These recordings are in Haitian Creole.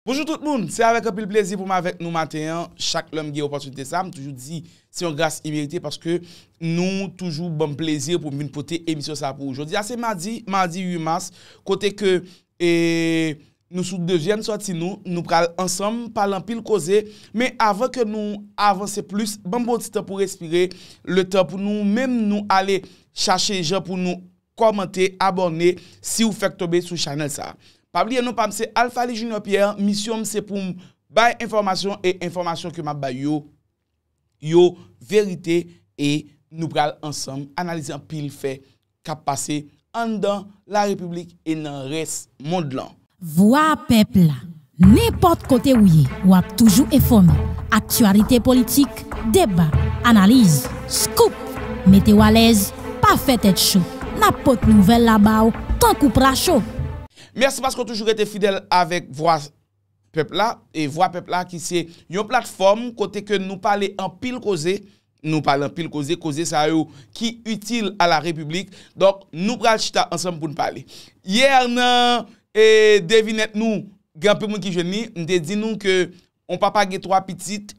Bonjou tout moun! Se avèk anpil plezi pou m avèk nou maten an, chak lè m gen opòtinite sa, m toujou di se yon gras imerite paske nou toujou banm plezi pou m vin pote emisyon sa pou ou. Jodi a se madi, madi 8 mas, kote ke nou sou dezyèm sòti nou, nou pral ansanm pale anpil koze, men avan ke nou avanse plis, banm pran yon ti tan pou respire, le tan pou nou menm nou ale chache jan pou nou kòmante, abòne siw fèk tonbe sou chanèl sa. Pa bliye non pam se Alphaly Junior Pierre, misyon m se poum bay enfòmasyon e enfòmasyon ke map bay yo yo verite e nou pral ansanm analize anpil fè kap pase anndan la repiblik e nan rès mond lan. Vwa pèp la, nenpòt kote ou ye, w ap toujou enfòme, aktyalite politik, deba, analiz, scoop, mete w alèz, pa fè tèt cho, n ap pot nouvèl la ba w tankou pra cho. Mèsi paske w toujou rete fidèl avèk vwa pèp la, e vwa pèp la ki se yon platfòm kote ke nou pale anpil koze, Nou pale anpil koze, koze sa yo ki itil a la repiblik. Donk nou pral chita ansanm pou n pale. Yè nan devinèt nou, gen anpil moun ki jwenn li, m te di nou ke yon papa gen 3 pitit,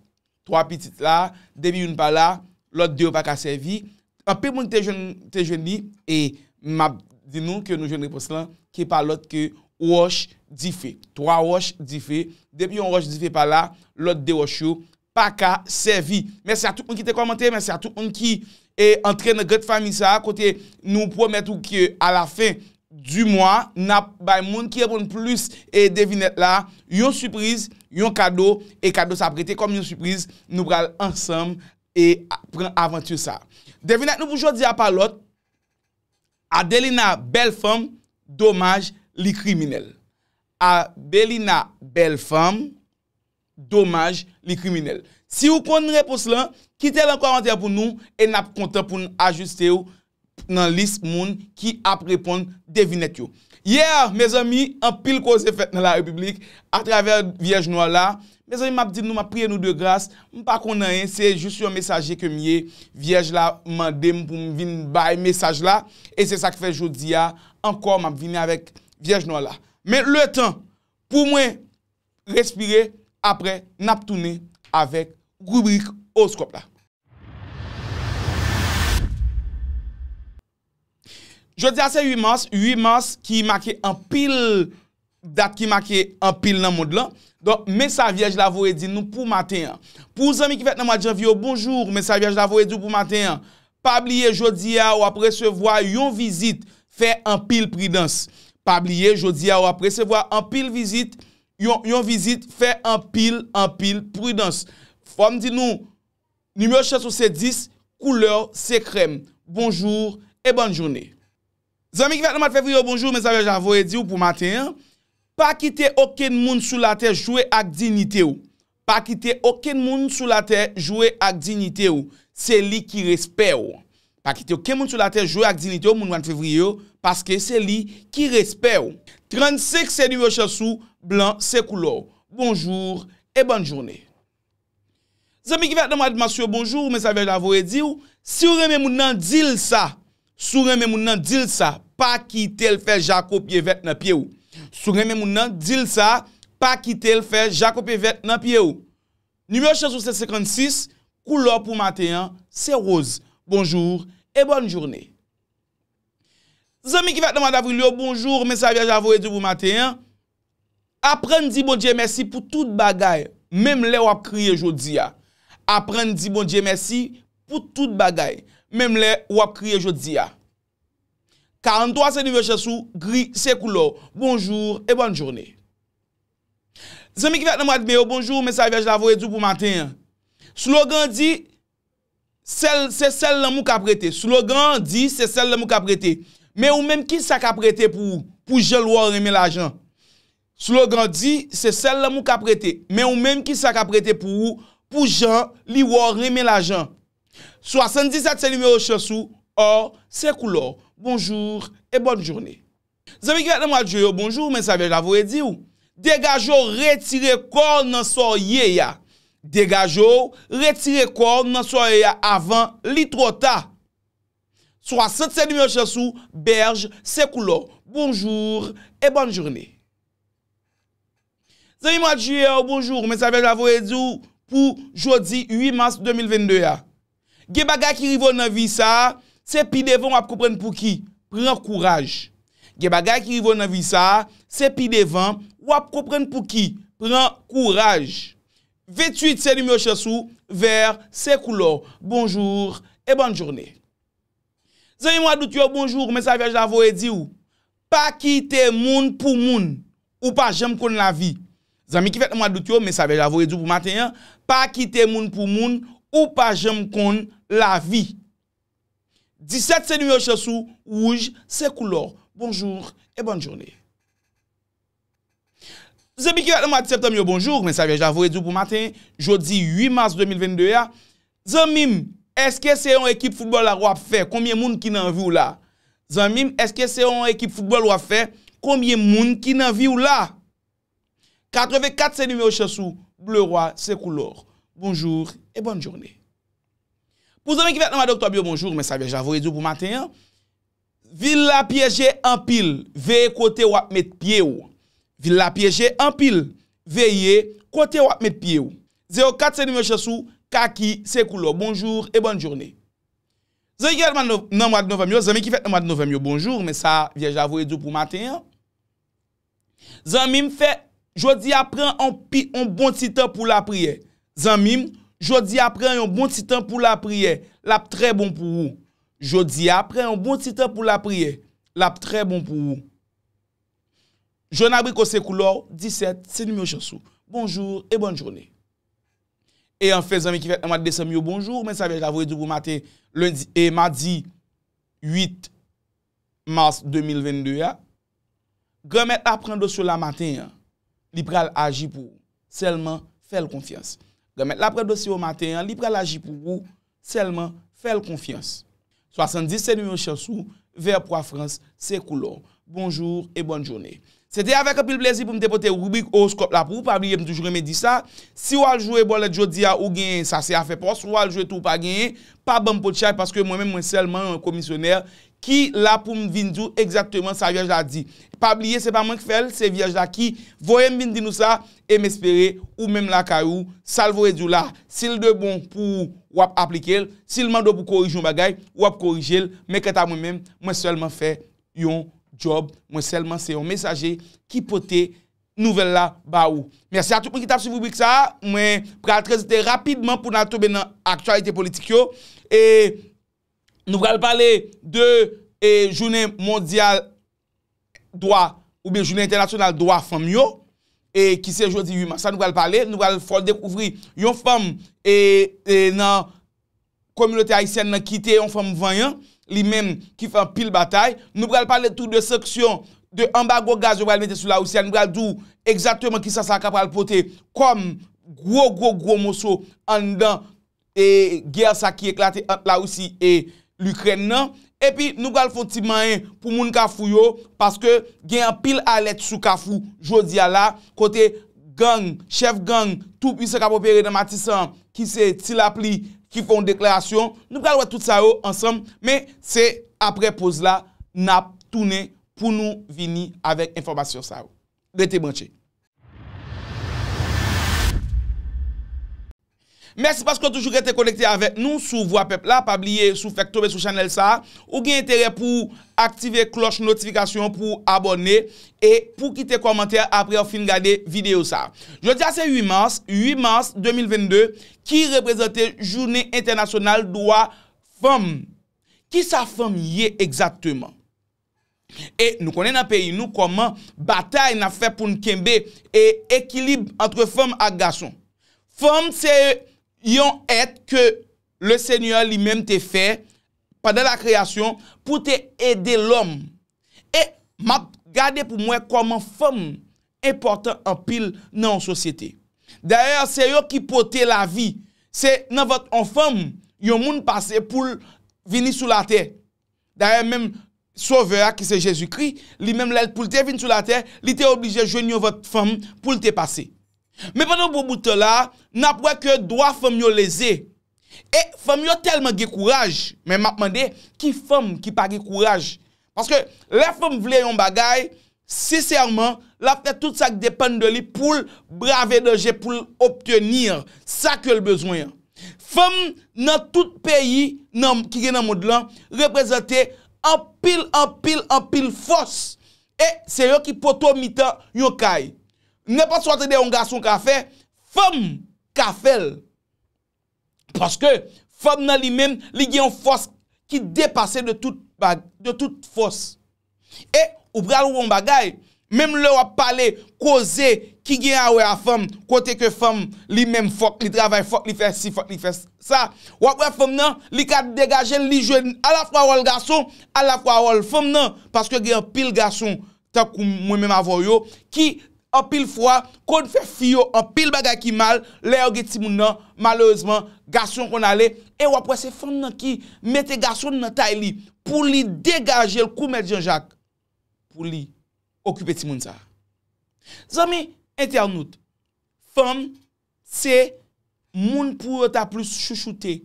3 pitit la, depi youn pa la, lòt 2 yo pa ka sèvi. Anpil moun te jwenn li e m ap di nou ke nou jwenn repons lan ki pa lòt ke wòch dife. 3 wòch dife, depi yon wòch dife pa la, lòt 2 wòch yo paka sèvi. Mèsi a tout moun ki te kòmante, mèsi a tout moun ki antre nan grand fami sa a kote nou pwomèt ou ke a la fen di mwa nap bay moun ki reponn plis e devinèt la yon sipriz, yon kado e kado sa ap rete kòm yon sipriz nou pral ansanm e pran avanti sa a. Devinèt nou pou jodi a pa lòt Adelina bèl fanm domaj li kriminèl. Abelina bèl fanm Domaj li kriminèl. Siw konn repons lan, kitel an kòmantè pou nou e nap kontan poun ajustew nan lis moun ki ap reponn devinèt yo. Yè mezanmi anpil koze fèt nan la repiblik atravè vyèj nwa la, mezanmi map di nou map priye nou de gras, mpa konn anyen se jis yon mesaje kem ye, vyèj la mandem poum vin bay mesaj la e se sak fè jodia ankò map vini avèk vyèj nwa la. Men letan pou mwen respire aprè nap tounen avèk ribrik owoskòp la. Jodia se 8 mars, 8 mars ki make anpil dat ki make anpil nan mond lan, donk men sa vyèj la voye di nou pou maten an. Pou zanmi ki fèt nan mwad janvye yo bonjour, men sa vyèj la voye di w pou maten an. Pa bliye jodi a wap resevwa yon vizit fè anpil pridans Pa bliye jodi a wap resevwa anpil vizit yon vizit fè anpil anpil pridans Fòm di nou Nimewo chans ou se 10 Koulèw se krèm Bonjour e bòn joune. Zanmi ki fèt nan mwad fevriye bonjour mesaj mwen ta voye diw pou maten an pa kite okenn moun sou latè jwe ak dignitew pa kite okenn moun sou latè jwe ak dignitew se li ki respèw pa kite okenn moun sou latè jwe ak dignitew moun mwad fevriye yo paske se li ki respèw 35 se nimewo chans ou blan se koulèw bonjour e bòn joune. Zanmi ki fèt nan mwa de mas yo bonjour men sa vèj la voye diw siw renmen moun nan dil sa si w renmen moun nan dil sa pa kitel fè jako pye vèt nan pyew si w renmen moun nan dil sa pa kitel fè jako pye vèt nan pyew nimewo chans ou se 56 koulè w pou maten an se rose bonjour et bonne journée. Zanmi ki fèt nan mwa davril yo bonjour men sa vyaj la voye di pou maten an aprann di Bondye mèsi pou tout bagay menm lè wap kriye jodi a aprann di Bondye mèsi pou tout bagay menm lè wap kriye jodi a 43 se nivo chans ou gri se koulè w bonjour e bòn joune Zanmi ki fèt nan mwad me yo bonjour men sa vyaj la voye di pou maten an slogan di Sèl, se sèl lanmou kap rete. Slogan an di se sèl lanmou kap rete. Men ou menm kisa kap rete pou ou, pou jan l wè w renmen lajan? Slogan an di se sèl lanmou kap rete. Men ou menm kisa kap rete pou ou, pou jan li wè w renmen lajan? 77 se nimewo chans ou, Or se koulè w. Bonjour et bonne journée. Zanmi ki fèt nan mwa Dye yo bonjou men sa vyèj la voye diw degajew retire kòw nan sa w ye ya degajew retire kòw nan sa w ye ya avan li twò ta 60 se nimewo chans ou bèj se koulèw bonjour et bonne journée Zanmi mwa Dye yo bonjou men sa vyèj la voye diw pou jodi 8 mas 2022 ya. Gen bagay ki rive w nan vi sa a, se pi devan w ap konprann pouki. Pran kouraj. Gen bagay ki rive w nan vi sa a, se pi devan w ap konprann pouki. Pran kouraj. 28 se nimewo chans ou, Vèr, se koulè w. Bonjour et bonne journée. Zanmi mwa dout yo bonjour men sa vyaj la voye diw pa kite moun pou moun ou pa janm konn lavi zanmi ki fèt nan mwa dout yo men sa vyaj la voye diw pou maten an pa kite moun pou moun ou pa janm konn lavi 17 se nimewo chans ou wouj se koulèw bonjour et bonne journée. Zanmi ki ret nan mwa de septanm yo bonjour, men sa vyèj la voye di w pou maten jodi 8 mas 2022 a, zanmi m eske se yon ekip foutbòl la wap fè konbyen moun ki nan vi w la, zanmi m eske se yon ekip foutbòl wap fè konbyen moun ki nan vi w la, 84 se nimewo chans ou, bleu roi se koulèw, bonjour et bonne journée. Pou zanmi ki fèt nan mwa doktòb yo bonjour, men sa vyèj la voye di w pou maten an, Vil la pyeje anpil, veye kote w ap met pye w. Vil la pyeje anpil, veye kote w ap met pye w. 04 se nimewo chans ou, kaki se koulè w. Bonjour et bonne journée. Zanmi ki fèt nan mwad novanm yo, zanmi ki fèt nan mwad novanm yo bonjour men sa vyèj la voye di w pou maten an. Zanmim fè Jodia pran on pi on bon ti tan pou lapriyè Zanmim Jodia pran yon bon ti tan pou lapriyè Lap trè bon pou ou Jodia pran yon bon ti tan pou lapriyè Lap trè bon pou ou Jwenn abriko se koulè w 17 se nimewo chans ou Bonjour et bonne journée E anfen zanmi ki fèt nan mwa desanm yo bonjou men sa vyèj la voye di w pou maten lendi e madi 8 mars 2022 a. Granmèt la pran dosye w la maten an, li pral aji pou ou, sèlman fè l konfyans. Granmèt la pran dosye w maten an, li pral aji pou ou, sèlman fè l konfyans. 70 se nimewo chans ou, vè pwa frans se koulè w. Bonjour et bonne journée. Se te avèk anpil plezi pou m te pote ribrik owoskòp la pou ou, pa bliye m toujou renmen di sa, si w al jwe bòlèt jodi a ou genyen sa se afè pa w, si w al jwe tou ou pa genyen, pa ban m potchay paske mwen menm mwen sèlman yon komisyonè ki la poum vin diw egzakteman sa vyèj la di pa bliye se pa mwen k fèl se vyèj la ki voyem vin di nou sa em espere ou menm lakay ou sal voye diw la sil de bon pou ou wap aplikel sil mande w pou korije yon bagay ou ap korijel men kanta mwen menm mwen sèlman fè yon djòb mwen sèlman se yon mesaje ki pote nouvèl la ba ou mèsi a tout moun ki tap swiv ribrik sa mwen pral transite rapidman poun al tonbe nan aktyalite politik yo e. Nou pral pale de jounen mondyal dwa ou byen jounen entènasyonal dwa fanm yo ki se jodi 8 mas la nou pral pale, nou pral fè w dekouvri yon fanm nan kominote ayisyèn nan ki te yon fanm vanyan li menm ki fè anpil batay. Nou pral pale tou de sanksyon, de anbago gaz yo pral mete sou Larisi a, nou pral di w egzakteman ki sa sa ka pral pote kòm gwo gwo gwo moso anndan. e gè sa ki eklate ant la Russie e L'Ukraine nan, epi nou pral fon ti manyen pou moun kafou yo, paske gen anpil alèt sou kafou jodi a la, kote gang, chèf gang tou pwisan kap opere nan matisan an, ki se ti lapli ki fon deklarasyon, nou pral wè tout sa yo ansanm, men se aprè poz la nap tounen pou nou vini avèk enfòmasyon sa yo. Rete branche. Mèsi paske w toujou rete konekte avèk nou sou Vwa Pèp la. Pa bliye si w fèk tonbe sou chanèl sa a, ou gen enterè pou w aktive klòch notifikasyon an pou w abòne e pou w kite kòmantè apre w fin gade videyo sa a. Jodi a se 8 mas, 8 mas 2022, ki reprezante Jounen Entènasyonal Dwa Fanm. Kisa fanm ye egzakteman? E nou konnen nan peyi nou kòman batay n ap fè pou n kenbe e ekilib antre fanm ak gason. Fanm se yon èt ke Lesenyè li menm te fè pandan lakreyasyon pou te ede lòm. E m ap gade pou m wè kòman fanm enpòtan anpil nan yon sosyete. Dayè se yo ki pote lavi. Se nan vant yon fanm yon moun pase pou l vini sou latè. Dayè menm Sovè a ki se Jezikri, li menm lè l pou l te vin sou latè, li te oblije jwenn yon vant fanm pou l te pase. Men pandan yon bon bout tan la a, n ap wè ke dwa fanm yo leze. E fanm yo tèlman gen kouraj, men m ap mande ki fanm ki pa gen kouraj? Paske lè fanm vle yon bagay, Sinsèman, l ap fè tout sa k depann de li pou l brave danje pou l obteni sa ke l bezwen an. Fanm nan tout peyi nan ki gen nan mond lan reprezante anpil anpil anpil fòs e se yo ki poto mitan yon kay. Nenpòt sa w tande yon gason ka fè, fanm ka fè l. Paske, fanm nan li menm, li gen yon fòs ki depase de tout bag, de tout fòs. E, ou pral wè yon bagay, menm lè wap pale koze ki gen a wè a fanm, kote ke fanm li menm fòk li travay, fòk li fè si, fòk li fè sa, wap wè fanm nan, li ka degaje l, li jwe alafwa wòl gason, alafwa wòl fanm nan, paske gen anpil gason. tankou mwen menm avè w yo ki anpil fwa konn fè fi yo anpil bagay ki mal lè yo gen timoun nan malerezman gason konn ale e w ap wè se fanm nan ki mete gason l nan tay li pou li degaje l kou mèt janjak pou li okipe timoun sa zanmi entènout fanm se moun pou yo ta plis chouchoute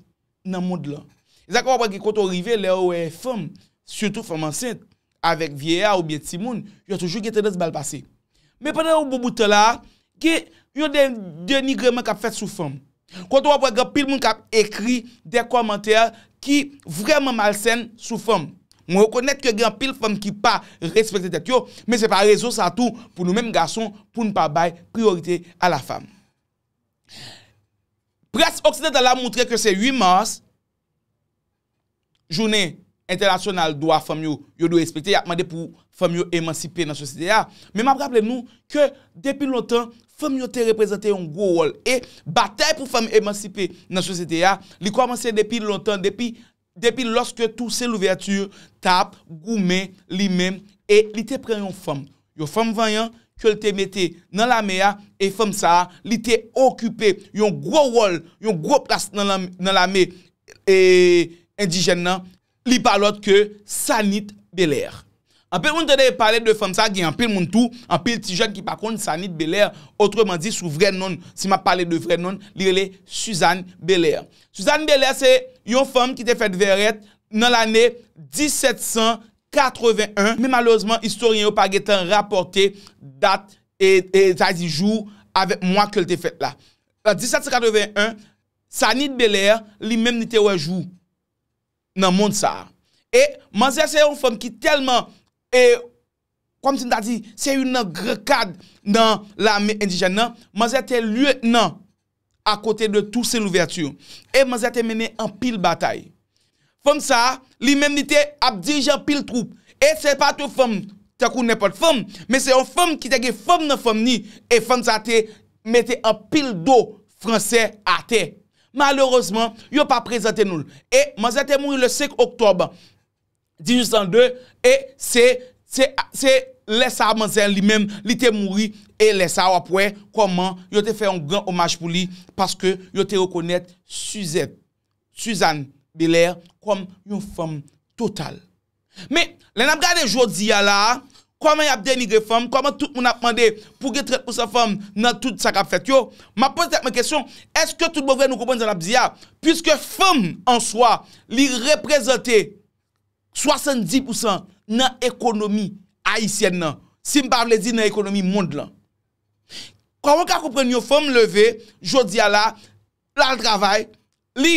nan mond lan. E sa k fè w ap wè gen kote w rive lè yo wè fanm, sitou fanm ansent, avèk vyeya oubyen timoun, yo toujou gen tandans ba l pase. Men pandan yon bon bout tan la a, gen yon denigreman k ap fèt sou fanm. Kote w ap wè gen anpil moun k ap ekri de kòmantè ki vrèman malsen sou fanm. Mwen rekonèt ke gen anpil fanm ki pa respekte tèt yo, men se pa rezon sa tou pou nou menm gason pou n pa bay priyorite a la fam. Près oksidantal la moutre ke se 8 mas, jounen entènasyonal dwa fanm yo, yo dwe respekte, y ap mande pou fanm yo emansipe nan sosyete a, men m ap raple nou ke depi lontan, fanm yo te reprezante yon gwo wòl e batay pou fanm emansipe nan sosyete a, li kòmanse depi lontan, depi Depi loske Toussaint Louverture tap goumen li menm e li te pran yon fanm, yon fanm vanyan ke l te mete nan lame a e fanm sa a li te okipe yon gwo wòl, yon gwo plas nan lame endijèn nan, li pa lòt ke Sanit Belair. Anpil moun tande e pale de fanm sa gen anpil moun tou, anpil ti jèn ki pa konn Sanit Belair otreman di sou vrè nonl si map pale de vrè nonl li rele Suzanne Belair. Suzanne Belair se yon fanm ki te fèt Vèrèt nan lane 1781 men malerezman istoryen yo pa gen tan rapòte dat e sa vle di jou avèk mwa kel te fèt la. An 1781 Sanit Belair li menm li te wè jou. nan mond sa a. E manzè se yon fanm ki tèlman e kòm si m ta di se youn nan gran kad nan lame endijèn nan. Manzè te lyetnan akote de Toussaint Louverture. E manzè te mennen anpil batay. Fanm sa a, li menm li te ap dirije anpil twoup. E se pa t yon fanm tankou nenpòt fanm, men se yon fanm ki te gen fanm nan fanm ni. E fanm sa a te mete anpil do franse atè. Malerezman, yo pa prezante nou l. E manzè te mouri le 5 oktòb 1802 e se se lè sa a manzè li menm li te mouri e lè sa a w ap wè kòman yo te fè yon gran omaj pou li paske yo te rekonèt Suzette Suzanne Belair kòm yon fanm total. Men, lè n ap gade jodi a la a, kòman y ap denigre fanm, kòman tout moun ap mande pou gen 30 pousan fanm nan tout sa k ap fèt yo, m ap poze tèt mwen kesyon, èske tout bon vre nou konprann sa n ap di a? Piske fanm an swa, li reprezante 70 pousan nan ekonomi ayisyèn nan, si m pa vle di nan ekonomi mond lan. Kòman w ka konprann yon fanm leve, jodi a la a, l al travay, Li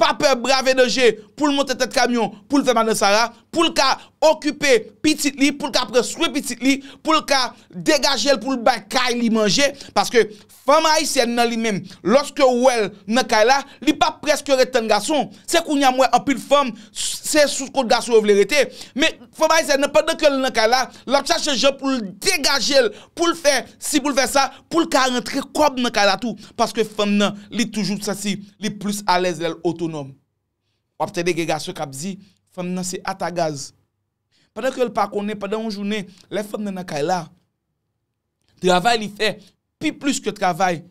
pa pè brave danje pou l monte tèt kamyon pou l fè madan sara, pou l ka okipe pitit li, pou l ka pran swen pitit li, pou l ka degaje l pou l bay kay li manje. Paske fanm ayisyèn nan li menm, lòske ou wè l nan kay la, li pa prèske ret tann gason. Se kounye a m wè anpil fanm, se sou kont gason yo vle rete. Men fanm ayisyèn nan pandan ke l nan kay la, l ap chache jan pou l degaje l, pou l fè si, pou l fè sa, poul ka rantre kòb nan kay la tou paske fanm nan li toujou santi li plis alèz lèl otonòm wap tande gen gason kap di fanm nan se ata gaz pandan kel pa konnen pandan yon jounen lè fanm nan nan kay la travay li fè pi plis ke travay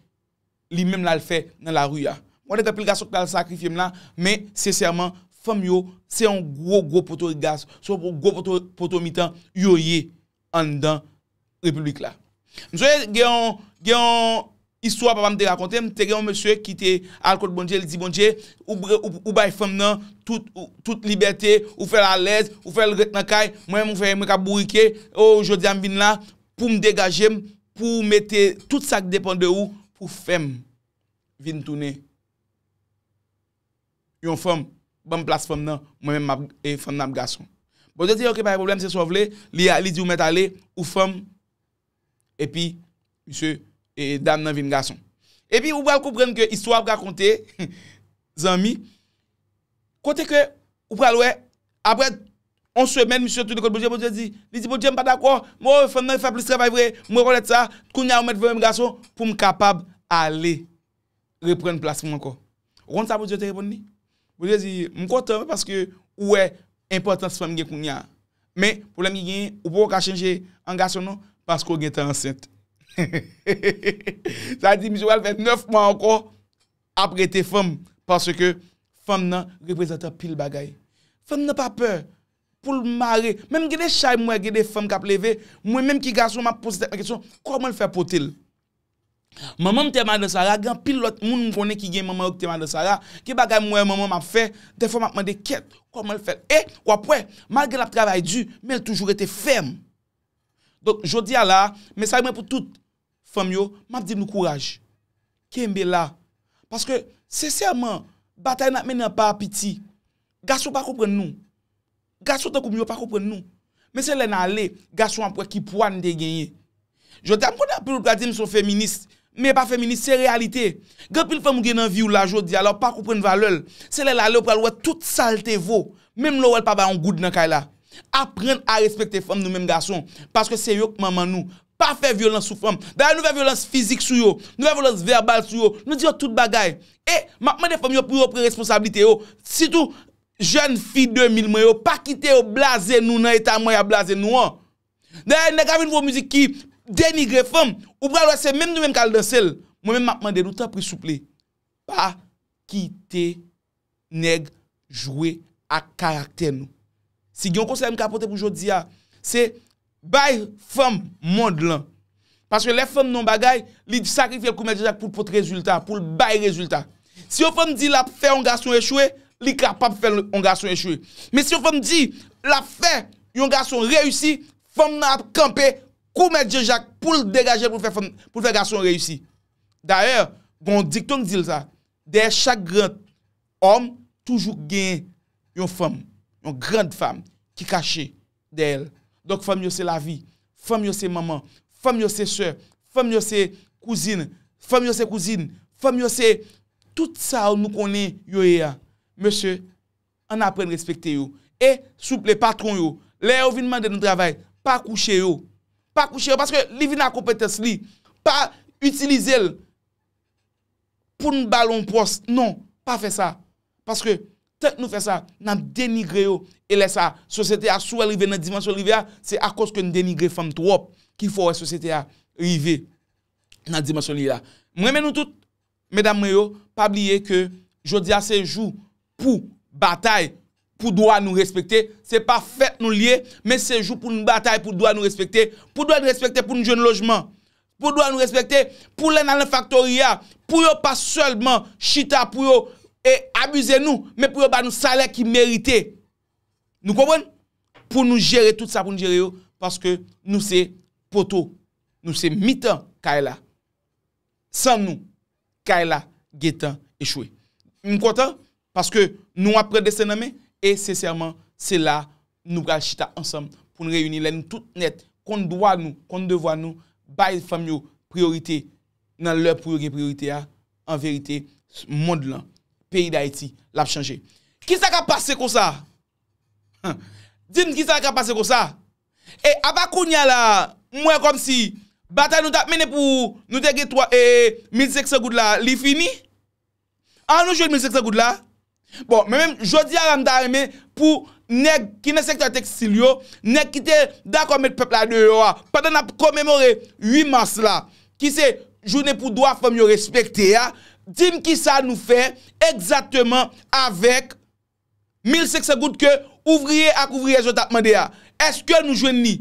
li menm lal fè nan lari a mwen konnen gen anpil gason ki pral sakrifyem la men sensèman fanm yo se yon gwo gwo poto gaz se yon gwo poto mitan yo ye. anndan repiblik la. M sonje gen yon, gen yon istwa papa m te rakonte m, te gen yon mesye ki te al kot Bondye, li di Bondye, ou bay fanm nan tout, tout libète, ou fè l alèz, ou fè l ret nan kay, mwen menm ou fè mwen k ap bourike, o, jodi a m vin la pou m degaje m, pou ou mete tout sa k depan de ou pou fè m vin tounen. yon fanm banm plas fanm nan mwen menm map e fanm nan ap gason Bondye di ok pa gen problèm se sa w vle li a li di ou mèt ale ou fanm epi misye e dam nan vin gason epi ou pral konprann ke istwa ap rakonte zanmi kote ke ou pral wè aprè yon semèn misye tounen kot Bondye Bondye di li di Bondye m pa dakò mo fanm nan fè plis travay vre m rekonèt sa kounye a ou mèt vle m gason pou m kapab ale. reprann plas mwen ankò. Ou konn sa Bondye te reponn li? Bondye di, m kontan wi paske ou wè enpòtans fanm gen kounye a. Men, pwoblèm ki genyen, ou poko ka chanje an gason non, paske ou gentan ansent. Sa vle di misye pral fè 9 mwa ankò ap rete fanm, paske fanm nan reprezante anpil bagay. Fanm nan pa pè pou l mare, menm gen de chay m wè, gen de fanm k ap leve, mwen menm ki gason m ap poze tèt mwen kesyon, kòman l fè pote l? Manmanm te madan sara gen anpil lot moun m konnen ki gen manman yo ki te madan sara gen bagay m wè manmanm ap fè dèfwa map mande kèt koman l fèl e wap wè malgre lap travay di men l toujou rete fèm donk jodia la mesaj mwen pou tout fanm yo map di nou kouraj kenbe la paske sensèman batay nap mennen an pa piti gason pa konprann nou. Gason tankou m yo pa konprann nou. Men se lè n ale, gason ap wè ki pwa n te genyen. Jodi a m konnen anpil moun pral di m se yon feminis. Men pa feminis, se reyalite. Gen anpil fanm ou gen nan vi w la jodi a la ou pa konprann valè l. Se lè l ale ou pral wè tout sa l te vo. Menm lè ou wè l pa bay yon goud nan kay la. Aprann a respekte fanm nou menm gason. Paske se yo k manman nou. Pa fè vyolans sou fanm. Dayè nou fè vyolans fizik sou yo. Nou fè vyolans vèbal sou yo. Nou di yo tout bagay. E m ap mande fanm yo pou yo pran responsablite yo. Sitou. jèn fi 2000 mwen yo pa kite yo blaze nou nan eta mwen ya blaze nou an. Dayè nèg la vin fè yon mizik ki denigre fanm, ou pral wè se menm nou menm kal danse l. Mwen menm map mande nou tanpri souple pa kite nèg jwe ak karaktè nou. Si gen yon konsèy m ka pote pou jodi a, se Bay fanm mond lan. Paske lè fanm nan yon bagay, li sakrifye l kou Mèt Jezak pou l pot rezilta, pou l bay rezilta. Si yon fanm di l ap fè yon gason echwe, li kapab fè yon gason echwe. Men si yon fanm di l ap fè yon gason reyisi, fanm nan ap kanpe kou Mèt Jezak pou l degaje l pou l fè gason reyisi. Dayè, gen yon diktong ki di l sa, dèyè chak gran òm toujou gen yon fanm, yon grand fam ki kache. dèyè l. Donk fanm yo se lavi. Fanm yo se manman. Fanm yo se sè. Fanm yo se kouzin. Fanm yo se kouzin. Fanm yo se tout sa yo nou konnen yo ye a. Mesye, ann aprann respekte yo. E, souple, patwon yo, lè yo vin mande nou travay, pa kouche yo. Pa kouche yo paske li vin a konpetans li. Pa itilize l. pou n ba l yon pwòs. Non, pa fè sa. Paske, tank nou fè sa, n ap denigre yo. E lè sa a, sosyete a, si w wè l rive nan dimansyon l rive a, se akoz ke n denigre fanm twòp ki fè w wè sosyete a rive nan dimansyon li ye la. M renmen nou tout, medam mwen yo, pa bliye ke jodi a se jou. pou batay pou dwa nou respekte, se pa fèt nou li ye, men se jou pou nou batay pou dwa nou respekte, pou dwa nou respekte pou nou jwenn lojman, pou dwa nou respekte pou lè n al nan faktori a, pou yo pa sèlman chita pou yo abize nou, men pou yo ba nou salè ki merite. Nou konprann? Pou nou jere tout sa pou nou jere yo, paske nou se poto, nou se mitan kay la. San nou, Kay la gentan echwe. M kontan paske nou ap pran desten nan men e sensèman se la nou pral chita ansanm pou n reyini lè nou tout nèt konn dwa nou, konn devwa nou, bay fanm yo priyorite nan lè pou yo gen priyorite a, an verite mond lan, peyi Dayiti l ap chanje. Kisa k ap pase konsa? Di m kisa k ap pase konsa? E apa kounya la m wè kòmsi batay nou tap mennen pou nou te gen 3 e 1500 goud la li fini? An nou jwenn 1500 goud la? Bon men menm jodi a la m ta renmen pou nèg ki nan sektè tekstil yo, nèg ki te dakò met pèp la deyò a pandan n ap komemore 8 mas la ki se jounen pou dwa fanm yo respekte a, di m kisa nou fè egzakteman avèk. 1500 goud ke ouvriye ak ouvriyèz yo tap mande a, eske nou jwenn li?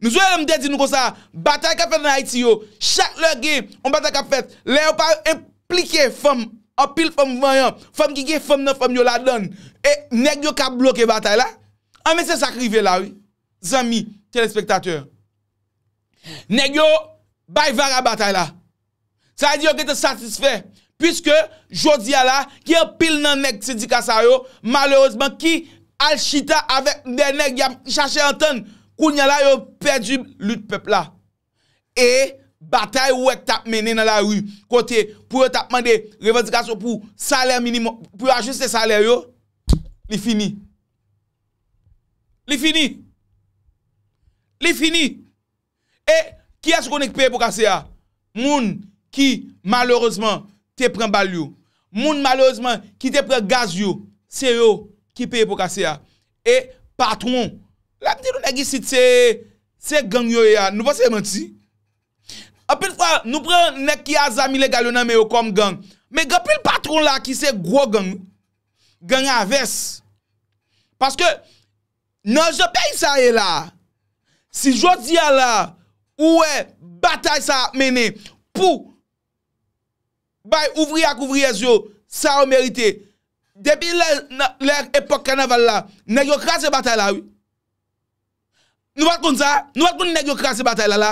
Nou sonje lè m te di nou konsa, batay kap fèt an Ayiti yo, chak lè gen yon batay kap fèt, lè yo pa enplike fanm, anpil fanm vanyan, fanm ki gen fanm nan fanm yo ladann, e nèg yo ka bloke batay la, anben se sak rive la wi, zanmi telespektatè. Nèg yo bay vara batay la. Sa vle di yo gentan satisfè, puiske jodi a la, gen anpil nan nèg sendika sa yo, malerezman ki al chita avèk dè nèg y ap chache antann, kounye a la yo pèdi lit pèp la. E batay ou wè k t ap mennen nan lari, kote pou yo t ap mande revandikasyon pou salè minimòm, pou yo ajiste salè yo, li fini. Li fini! Li fini! E kiyès ou konnen ki peye po kase a? Moun ki malerezman te pran bal yo. Moun malerezman ki te pran gaz yo. Se yo ki peye po kase a. E patwon. Lè m di nou nèg isit se, se gang yo ye a, nou panse se manti? Anpil fwa nou pran nèg ki a zam ilegal yo nan men yo kòm gang. Men gen anpil patwon la ki se gwo gang. Gang a vès. Paske. Nan jan peyi sa ye la a, si jodi a la a ou wè batay sa ap mennen pou bay ouvriye ak ouvriyèz yo sa yo merite, depi lè lè epòk kanaval la, nèg yo kraze batay la wi. Nou pa t konn sa? Nou pa t konn nèg yo kraze batay la la?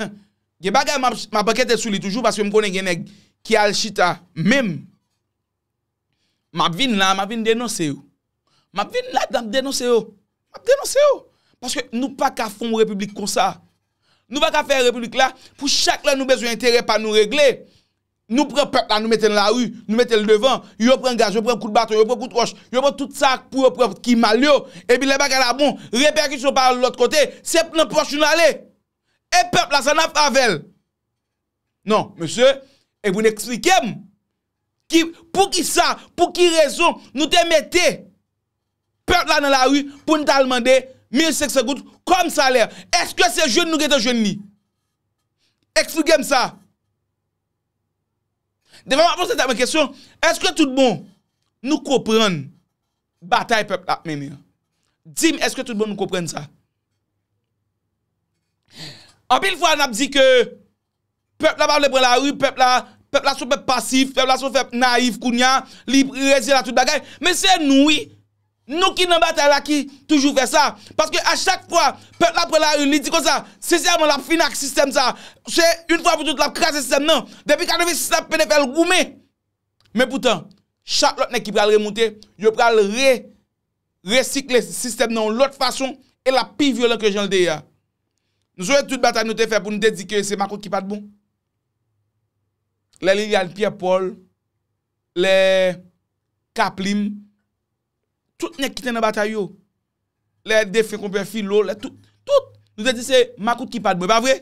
Huh! Gen bagay m ap ankete sou li toujou paske m konnen gen nèg ki al chita menm. Map vin la map vin denonse yo Map vin la map denonse yo Map denonse yo Paske nou pa ka fon repiblik konsa Nou pa ka fè repiblik la Pou chak lè nou bezwen enterè pa nou regle Nou pran pèp la nou mete l nan lari Nou mete l devan Yo pran gaz yo pran kout baton yo pran kout wòch Yo pran tout sa pou yo pran ki mal yo Epi lè bagay la bon repèkisyon pa al lòt kote Se nan pòch nou l ale E pèp la sa nap avè l Non mesye Ebyen eksplike m Ki, poukisa, pou ki rezon nou te mete pèp la nan lari pou n t al mande 1500 goud kòm salè? Èske se jwenn nou gen te jwenn li? Eksplike m sa. Devan m ap poze tèt mwen kesyon, èske tout bon nou konprann batay pèp la ap mennen an? Di m èske tout bon nou konprann sa? Anpil fwa n ap di ke. Pèp la pa vle pran lari, pèp la, pèp la son pèp pasif, pèp la son pèp nayif kounya, li rezyen a tout bagay, men se nou wi, nou ki nan batay la ki toujou fè sa, paske a chak fwa pèp la pran lari li di konsa, sensèman l ap fini ak sistèm sa, se yn fwa pou tout l ap kraze sistèm nan, depi 86 l ap pede fè l goumen, men poutan chak lòt nèg ki pral remoute, yo pral re resikle sistèm nan yon lòt fason e l ap pi vyolan ke jan l te ye a. Nou sonje tout batay nou te fè pou nou te di ke se makòk ki pa t bon? Lè Liliane Pierre Paul, lè Kaplim, tout nèg ki te nan batay yo, lè defen konpè Filo, lè tout, tout, nou te di se makout ki pa t bon, e pa vre?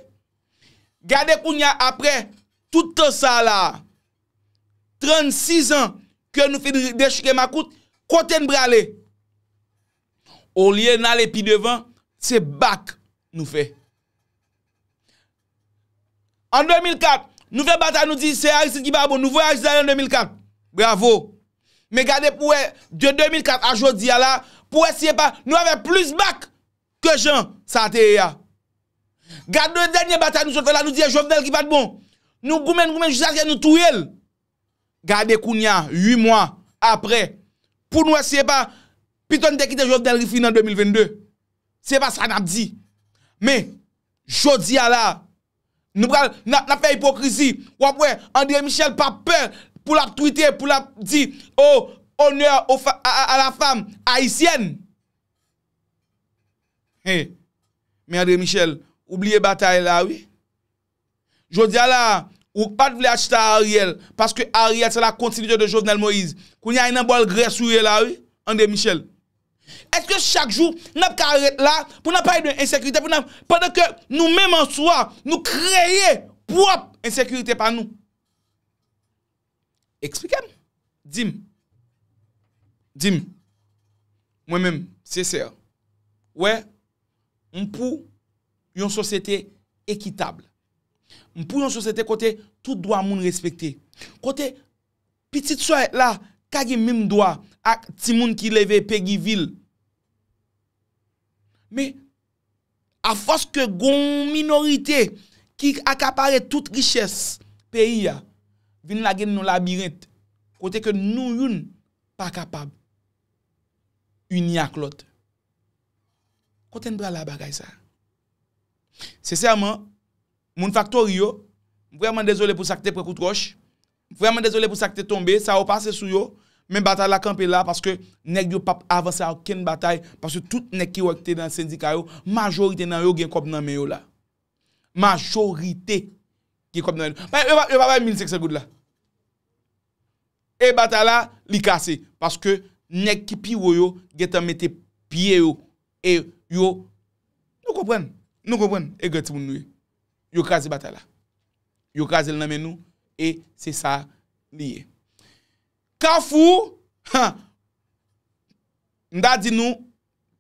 Gade kounye a aprè tout tan sa la a, 36 ans ke nou fin dechire makout, kote n prale? Olye n ale pi devan, se back nou fè. An 2004, nou fè batay nou di se Aristide ki pa bon, nou voye Aristide ale an 2004. Bravo! Men gade pou wè de 2004 a jodi a la, pou wè si e pa nou ave plis back! Ke jan sa te ye a. Gad de dènye batay nou sot fè la nou di e Jovenel ki pat bon. Nou goumen n goumen n jiskaske nou touye l. Gade kounya 8 mwa aprè pou n wè si e pa pito n te kite Jovenel ri fini an 2022. Se pa sa n ap di. Men jodi a la nou pral n ap fè ipokrizi. W ap wè André Michel pa pè pou l ap twite pou l ap di oh honneur à la femme haïtienne. He Men Andre Michel ou bliye batay la wi. Jodia la a ou k pat vle achita Ariel paske Ariel se la kontinite de Jovenel Moïse. Kounya e nan bòl grès ou ye la wi Andre Michel. Eske chak jou nap ka ret la pou nap pale de ensekirite pou nan pandan ke nou menm an swa nou kreye pwòp ensekirite pa nou. Eksplike m. Di m. Di m. Mwen menm, sesè. Wè, m pou yon sosyete ekitab. M pou yon sosyete kote tout dwa moun respekte. Kote pitit Soyèt la ka gen menm dwa ak timoun ki leve Pegivil. Men. A fòs ke gon yon minorite ki akapare tout richès peyi a, vin lage n yon labirent kote ke nou youn pa kapab ini ak lòt. Kote n pral a bagay sa? Sensèman, moun faktori yo, m vrèman dezole pou sa k te pran kout wòch, Vrèman dezole pou sa ki te tonbe, sa yo pase sou yo, men batay la kanpe la paske nèg yo pap avanse a okenn batay paske tout nèg ki wè ki te nan sendika yo, majorite nan yo gen kòb nan men yo la. Majorite gen kòb nan men yo. Yo pa bay 1500 goud la. E batay la, li kase paske nèg ki pi wo yo gentan mete pye yo E yo, nou konprann, nou konprann egrè timoun nou ye. Yo kraze batay la. Yo kraze l nan men nou e se sa li ye. Kafou, han, m ta di nou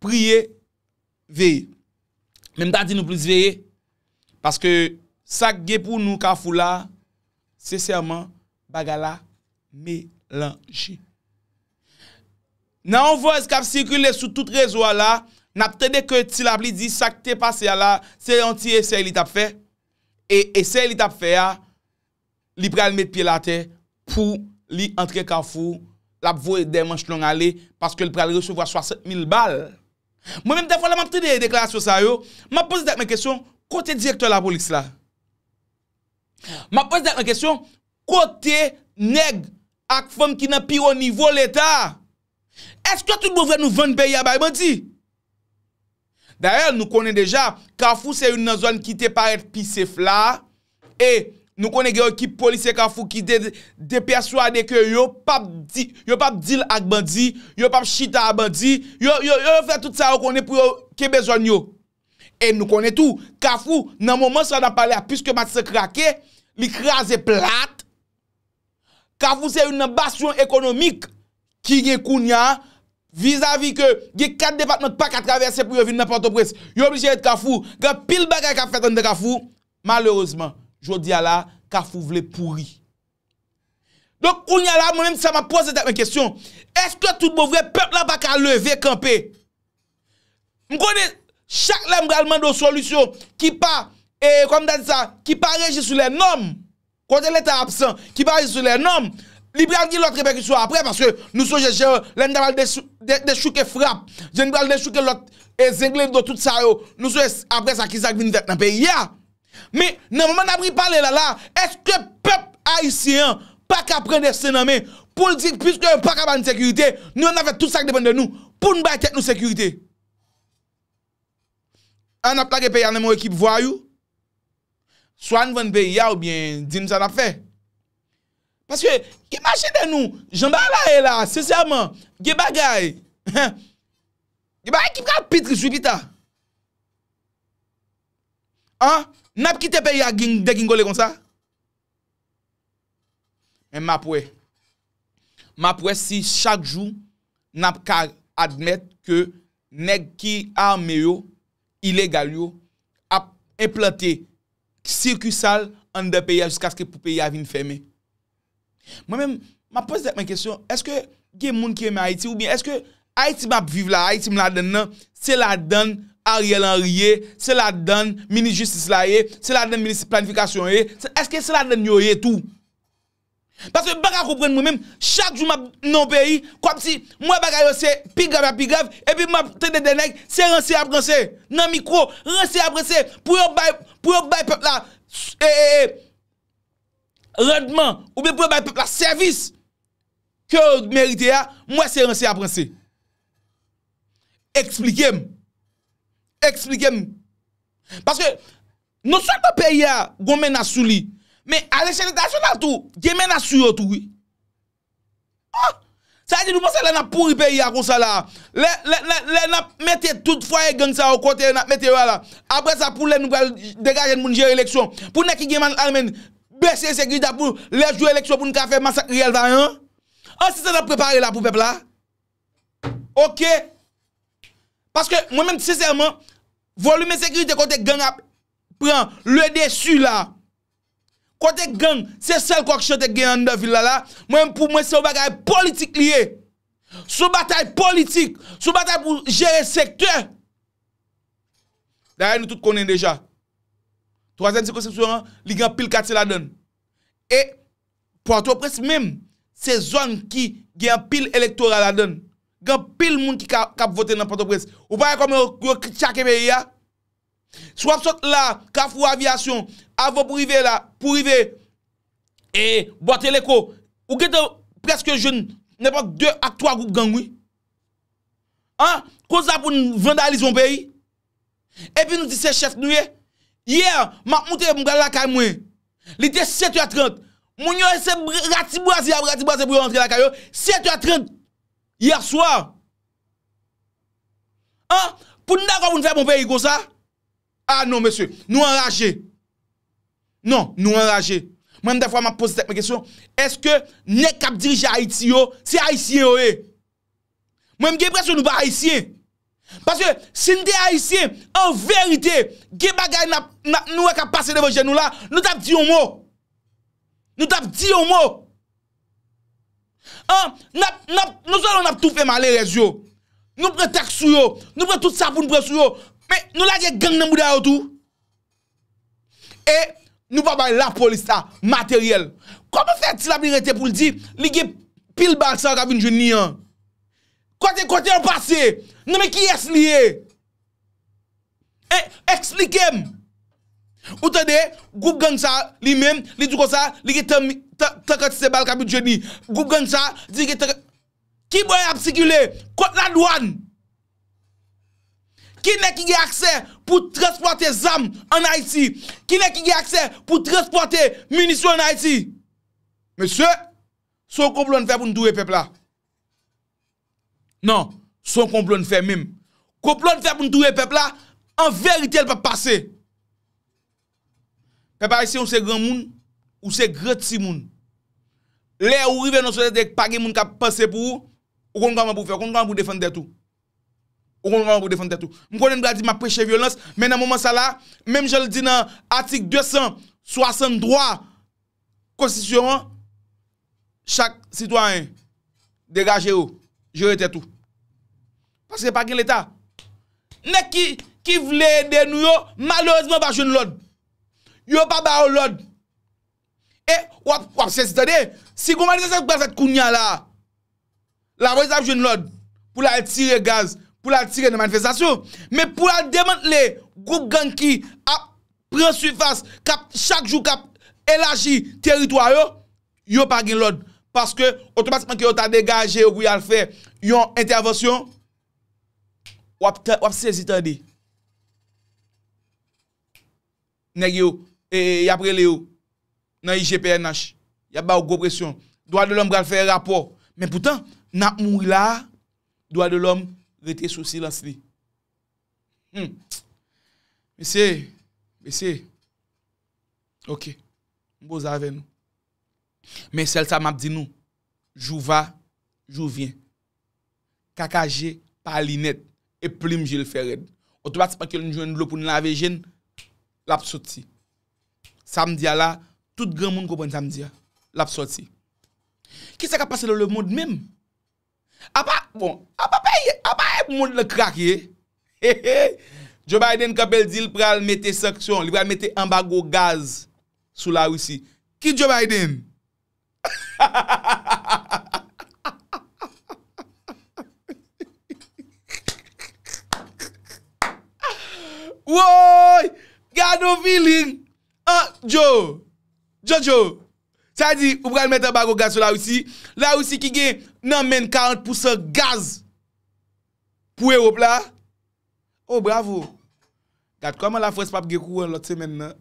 priye, veye. Men m ta di nou plis veye, paske sa k gen pou nou kafou la, sensèman, bagay la melanje. Nan yon vòz kap sikile sou tout rezo a la, nap tande ke Ti Lapli di sak te pase a la se yon ti esèy li tap fè, e esèy li tap fè a li pral met pyel atè pou li antre kafou lap voye dè manch long ale paske li pral resevwa 60 mil bal. Mwen menm dèfwa lè map tande deklarasyon sa yo, map poze tèt mwen kesyon kote direktè lapolis la? Map poze tèt mwen kesyon, kote nèg ak fanm ki nan pi wo nivo leta? Eske tout bon vre nou vann peyi a bay bandi? Dayè nou konnen deja, kafou se youn nan zòn ki te parèt pi sef la, e nou konnen gen yon ekip polisye kafou ki te depèswade ke yo pap di, yo pap dil ak bandi, yo pap chita a bandi, yo, yo, yo fè tout sa yo konnen pou yo kenbe zòn yo. E nou konnen tou, Kafou, nan moman sa nap pale a, piske Matisan krake, li kraze plat. Kafou se youn nan basyon ekonomik ki gen kounya, vizavi ke gen 4 depatman ki pa ka travèse pou yo vin nan Pòtoprens, yo oblije ret Kafou. Gen anpil bagay kap fèt anndan Kafou. Malerezman, jodi a la, Kafou vle pouri. Donk, kounye a la, mwen menm sa map poze tèt mwen kesyon, èske tout bon vre, pèp la pa ka leve kanpe? M konnen chak lè m pral mande yon solisyon ki pa e kòm ta di sa ki pa reji sou lè nòm kote leta absan ki pa reji sou lè nòm li pral gen lòt repèkisyon aprè paske nou sonje jan lè n ta pral dechouke frap jan n pral dechouke lòt e zenglendo tout sa yo nou sonje aprè sa ki sa k vin fèt nan peyi a. Men, nan moman n ap ri pale la la, èske pèp ayisyen an pa ka pran desten nan men pou l di piske yo pa ka ba n sekirite, nou menm n ap fè tout sa k depann de nou pou n bay tèt nou sekirite? A n ap lage peyi a nan men yon ekip vwayou? Swa n vann peyi a oubyen di n sa n ap fè. Paske, imajine nou, jan bagay la ye la a, sensèman, gen bagay, gen bagay ki pral pi tris wi pita. An, nap kite peyi a degingole konsa? Men map wè. Map wè si chak jou nap ka admèt ke nèg ki ame yo, ilegal yo, ap enplante sikisal anndan peyi a jiskaske pou peyi a vin fèmen. Mwen menm, m ap poze tèt mwen kesyon, èske gen moun ki renmen Ayiti oubyen èske Ayiti m ap viv la, Ayiti m ladann nan, se ladann Ariel Henry ye, se ladann minis jistis la ye, se ladann minis planifikasyon ye, èske se ladann yo ye tou? Paske m pa ka konprann mwen menm, chak jou m ap nan yon peyi, kòmsi m wè bagay yo se pi grav ak pi grav, epi m ap tande de nèg, se ranse y ap ranse, nan mikwo, ranse y ap ranse, pou yo bay, pou yo bay pèp la, e, e, e. randman oubyen pou yo bay pèp la sèvis ke yo merite a, m wè se ranse y ap ranse. Eksplike m. Eksplike m. Paske, non sèlman peyi a gwo menas sou li, men alechèl entènasyonal tou, gen menas sou yo tou wi. Ohh! Sa vle di nou panse lè nap pouri peyi a konsa la, lè nap mete tout fwaye gang sa yo kote yo nap mete yo a la, aprè sa pou lè nou pral degaje n pou n jere eleksyon, pou nèg ki gen mal anmen n bese ensekirite a pou lè jou eleksyon pou n ka fè masak riyèl vayan an? An se sa nap prepare la pou pèp la? Ok! Paske mwen menm sensèman, volim ensekirite kote gang ap pran le desu la, Kote gang, se sèl kòk chante k gen anndan vil la la, mwen menm pou mwen se yon bagay politik li ye. Se yon batay politik, se yon batay pou jere sektè. Dayè nou tout konnen deja, twazyèm sikonsepsyon an, li gen anpil katye ladann. E, pòtoprens menm, se zòn ki gen anpil elektora ladann. Gen anpil moun ki ka, k ap vote nan pòtoprens. Ou pa wè kòman yo, yo tchake peyi a? Si w ap sot la, kafou avyasyon, avan pou rive la, pou rive e bwa teleko, ou gen tan preske jwenn nenpòt 2 ak 3 gwoup gang wi. An, koz sa pou n vandalize yon peyi? Epi nou di se chèf nou ye? Yè, m ap moute m pral lakay mwen, li te 7 è 30, moun yo se ratibwaze y ap ratibwaze pou yo rantre lakay yo, 7 è 30 yèswa. An, pou n dakò pou n fè bon peyi konsa? A non mesye, nou anraje. Non, nou anraje. Mwen menm dèfwa m ap poze tèt mwen kesyon, èske nèg k ap dirije Ayiti yo, se Ayisyen yo ye? Mwen m gen enpresyon nou pa Ayisyen. Paske, si n te Ayisyen, an verite, gen bagay n ap, nou wè k ap pase devan je nou la, nou t ap di yon mo. Nou t ap di yon mo. An, nap, nap, non sèlman nap toufe malerèz yo, nou pran taks sou yo, nou pran tout sa poun pran sou yo, men nou lage gang nan bouda yo tou. E nou pa bay lapolis la materyèl. Kòman fè ti lapli rete pou l di li gen pil bal sa yo kap vin jwenn li an? Kote, kote yo pase? Nan men kiyès li ye? E, esplike m! Ou tande, gwoup gang sa a, li menm, li di konsa, li gen tan, tan kantite bal k ap jwenn li. Gwoup gang sa a, di gen tan. Ki bò y ap sikile? Kot ladwàn? Ki nèg ki gen aksè pou transpòte zam ann Ayiti? Ki nèg ki gen aksè pou transpòte minisyon ann Ayiti? Mesye, se yon konplo n fè pou n touye pèp la. Non, se yon konplo n fè menm. Konplo n fè pou n touye pèp la, an verite l p ap pase. Pèp ayisyen ou se granmoun, ou se gran timoun. Lè ou rive nan sosyete k pa gen moun k ap panse pou ou, ou konn kòman pou w fè, ou konn kòman pou w defann tèt ou. Ou konn kòman pou w defann tèt ou. M konnen m ta di m ap preche vyolans, men nan moman sa la, menm jan l di nan atik 263 konstitisyon an, chak sitwayen degaje ou jere tèt ou paske pa gen leta nèg ki vle ede nou yo malerezman pa jwenn lòd yo pa ba yo lòd e wap sezi tande si gon manifestasyon k pral fèt kounya la. Lapolis ap jwenn lòd pou l al tire gaz, pou l al tire nan manifestasyon, men pou l al demantle gwoup gang ki ap pran sifas, k ap chak jou k ap elaji teritwa yo, yo pa gen lòd. Paske otomatikman ke yo ta degaje yo pou y al fè yon entèvansyon, w ap sezi tande. nèg yo y ap rele yo nan IGPNH, y ap ba yo gwo presyon. Dwa de lòm pral fè rapò. Men poutan, n ap mouri la a, dwa de lòm rete sou silans li. Hum! Mesye, mesye, ok, m poze avè nou. Men sèl sa m ap di nou, jou va, jou vyen. Kaka je pa li nèt e plim je l fè rèd. Otomatikman ke n jwenn dlo pou n lave je n, l ap soti. Sa m di a la, tout granmoun konprann sa m di a. L ap soti. Ki sa k ap pase nan lemonn menm? Apa, bon, apa peyi, apa e monn lan krake? Hehey! Joe Biden kanpe l di l pral mete sanksyon, li pral mete anbago gaz sou Larisi. Ki Joe Biden? Woyy gad on feeling an djo Jojo sa vle di ou pral met anbago gaz sou la Russi la Russi ki gen nan menn 40 pousan gaz pou Europe la. Oh bravo! Gad kòman la France pap gen kouran lòt semèn nan.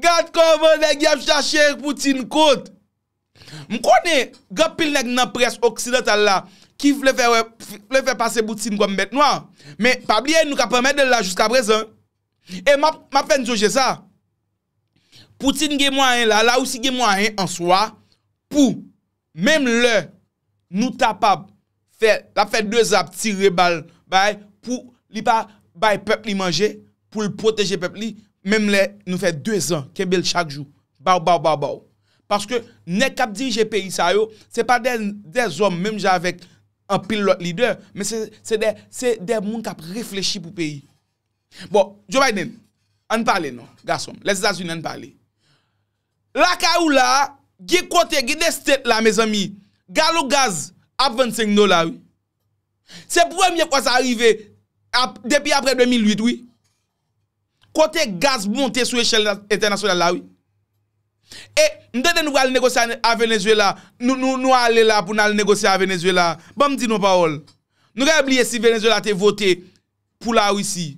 Gad kòman nèg yap chache Poutine kont. M konnen gen anpil nèg nan près oksidantal la ki vle fè wè, vle fè pase Poutine kòm bèt nwa. Men pa bliye nou kap anmède l la jiska prezan. E map, map fè n sonje sa. Poutine gen mwayen la, la Russie gen mwayen an swa pou. Menm lè nou kapab fè lap fè 2 zan ap tire bal bay pou li pa bay pèp li manje poul pwoteje pèp li menm lè nou fè 2 zan kenbel chak jou baw baw baw baw paske nèg kap dirije peyi sa yo se pa de zòm menm jan avèk anpil lòt lidè men se de se de moun kap reflechi pou peyi bon Joe Biden ann pale non gasonm lèzetazini ann pale. Lakay ou la, gen kote, gen de state la mezanmi, galon gaz ap vann 5 dola wi. Se premye fwa sa rive depi apre 2008 wi. Kote gaz monte sou echèl entènasyonal la wi. E m tande nou pral negosye a Venezuela, nou ale la pou n al negosye a Venezuela. Banm di nou yon pawòl. Nou genlè bliye si Venezuela te vote pou la Russie.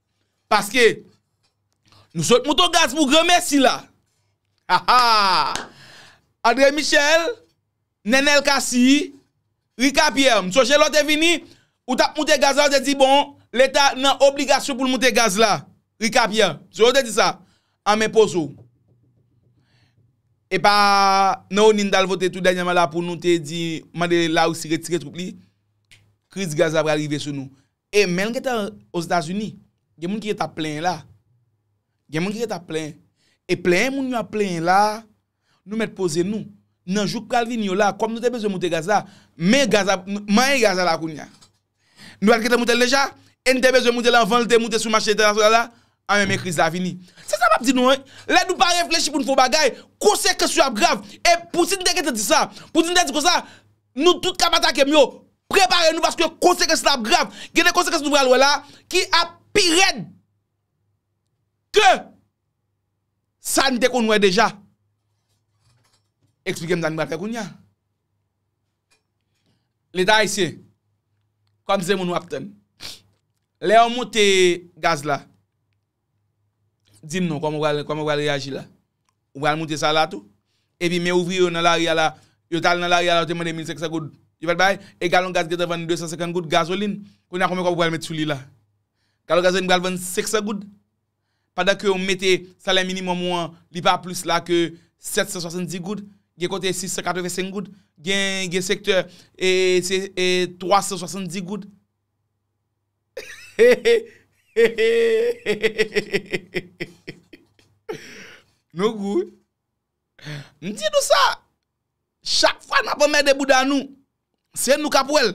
Paske Nou sot mouton gaz pou gran mesi la Ha ha Andre Michel Nenel Cassy Rica Pierre m sonje lè w te vini ou tap moute gaz la ou te di bon leta nan obligasyon pou l moute gaz la Rica Pierre m sonje w te di sa an men poze w epa nan oni n tal vote tou dènyèman la pou nou te di mande larisi retire twoup li kriz gaz la pral rive sou nou E men l gentan Ozetazini. Gen moun ki gentan ap plenyen la. Gen moun ki gentan ap plenyen. E plenyen moun yo ap plenyen la a, nou mèt poze nou. Nan jou k pral vini yo la a, kòm nou te bezwen moute gaz la, men gaz la, manyen gaz la la kounye a. Nou pa t gentan moute l deja? E n te bezwen moute l anvan l te moute sou mache entènasyonal la? Anben men kriz la vini. Se sa m ap di nou an. Lè nou pa reflechi pou n fè yon bagay, konsekans yo ap grav. E Poutine te gentan di sa. Poutine te di konsa. Nou tout kap atakem yo prepare nou paske konsekans la ap grav gen de konsekans nou pral wè la ki ap pi rèd ke sa n te konn wè deja eksplikem sa n pral fè kounya leta ayisyen kòm se moun wap tann lè yo monte gaz la Di m non, kòman ou pral reyaji la? Ou pral moute sa la tou? Epi men ouvriye yo nan lari a la, yo t al nan lari a la yo te mande 1500 goud, yo pa t bay? E galon gaz gen tan vann 250 goud, gazolin, kounye a konbyen kòb ou pral met sou li la? Galon gazolin pral vann 500 goud? Pandan ke ou mete salè minimòm ou an, li pa plis la ke 770 goud, gen kote 685 goud, gen sektè se 370 goud. Nou gou wi. M di nou sa, chak fwa n ap anmède bouda nou, se nou k ap wè l.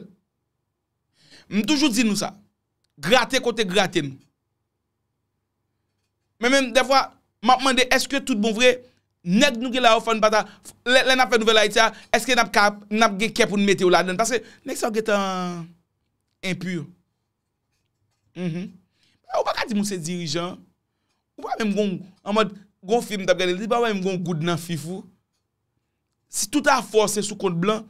M toujou di nou sa, grate kote grate nou. Men menm dèfwa m ap mande èske tout bon vre nèg nou gen la yo fò n pa ta lè n ap fè nouvèl Ayiti a èske n ap ka n ap gen kè pou n mete yo ladan l paske nèg sa yo gen tan enpur ou pa ka di m ou se dirijan ou pa menm gen yon an mòd gen yon fim m t ap gade li pa menm gen yon goud nan fif ou. Si tout afè w se sou kont blan,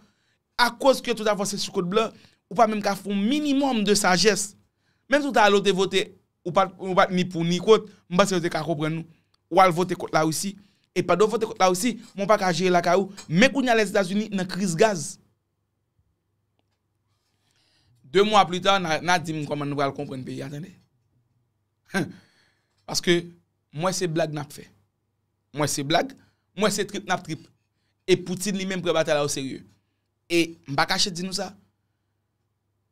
akoz ke tout afè w se sou kont blan, ou pa menm ka fè yon minimòm de sajès. Menm si w ta ale w te vote, ou pa t ni pou ni kont, m panse yo te ka konprann ou. Ou al vote kont Larisi, e pandan w vote kont Larisi, men w pa ka jere lakay ou. Men kounye a Lèzetazini nan kriz gaz. De mwa pli ta, n a di m kòman nou pral konprann peyi a tande. Paske, m wè se blag n ap fè. M wè se blag, m wè se trip n ap trip. E Poutine li menm pran batay la oserye. E m pa kache di nou sa,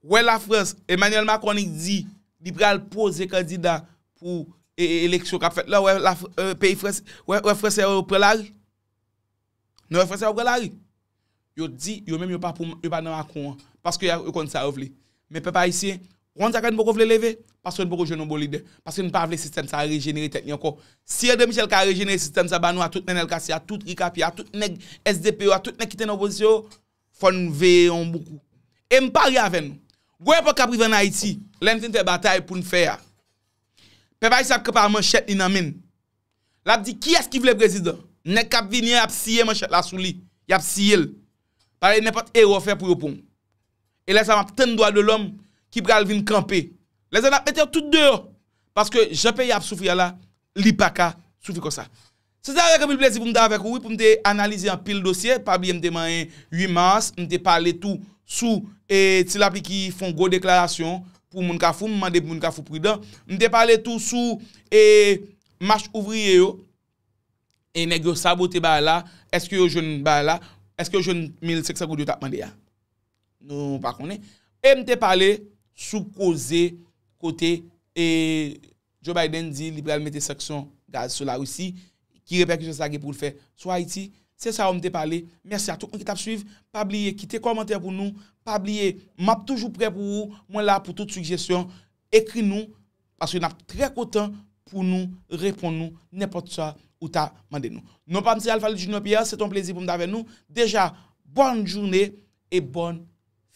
wè Lafrans, Emmanuel Macron li di li pral poze kandida pou eleksyon k ap fèt la, wè peyi Frans, wè Fransè yo pran lari. Nou wè fransè yo pran lari. Yo di yo menm yo pa pou yo pa nan Macron an. Paske yo konn sa yo vle. Men pèp ayisyen, ou konn sa fè nou poko vle leve? Paske nou poko jwenn yon bon lidè. Paske nou pa vle sistèm sa rejenere tèt li ankò. Si André Michel ka rejenere sistèm sa ba nou a tout Nenel Cassy a, tout Rick Appiah, tout nèg sdp yo a, tout nèg ki te nan opozisyon yo, fò n veye yon bon kou. E m parye avè nou, gon epòk k ap rive ann Ayiti, lè n fin fè batay pou n fè a, pèp ayisyen ap kanpe a manchèt li nan men l. Lap di kiyès ki vle prezidan. Nèg kap vini an yap siye manchèt la sou li. Yap siye l. Pa vle nenpòt erè w fè pou yo pran w. E lè sa map tann dwa de lòm ki pral vin kanpe. Lè sa nap mete yo tout deyò. Paske jan peyi a ap soufri a la, li paka soufri konsa. Se te avèk anpil plezi pou m te avèk ou wi, pou m te analize anpil dosye. Pa bliye m te manyen 8 mas, m te pale tou sou Ti Lapli ki fon gwo deklarasyon. pou moun Kafou, m mande pou moun Kafou pridan. M te pale tou sou e mach ouvriye yo, e nèg yo sabote bagay la, eske yo jwenn bagay la, eske yo jwenn 1500 goud yo tap mande a? Nou pa konnen. E m te pale sou koze kote e Joe Biden di li pral mete sanksyon gaz sou Larisi, ki repèkisyon sa gen pou l fè sou Ayiti? Se sa yo m te pale, mèsi a tout moun ki t ap swiv, pa bliye kite kòmantè pou nou, pa bliye m ap toujou prè pou ou, mwen la pou tout sigjesyon, ekri nou paske n ap trè kontan pou nou reponn nou nenpòt sa ou ta mande nou. Non pa m se Alphaly Junior Pierre, se te yon plezi pou m t avè nou, deja bòn joune e bòn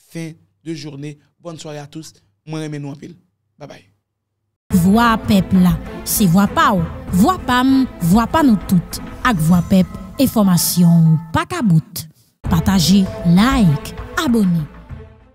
fen de joune, bòn sware a tous, mwen renmen nou anpil, babay. Vwa pèp la, se vwa pa w, vwa pa m, vwa pa nou tout. Ak vwa pèp, enfòmasyon w pa ka bout. Pataje, like, abone.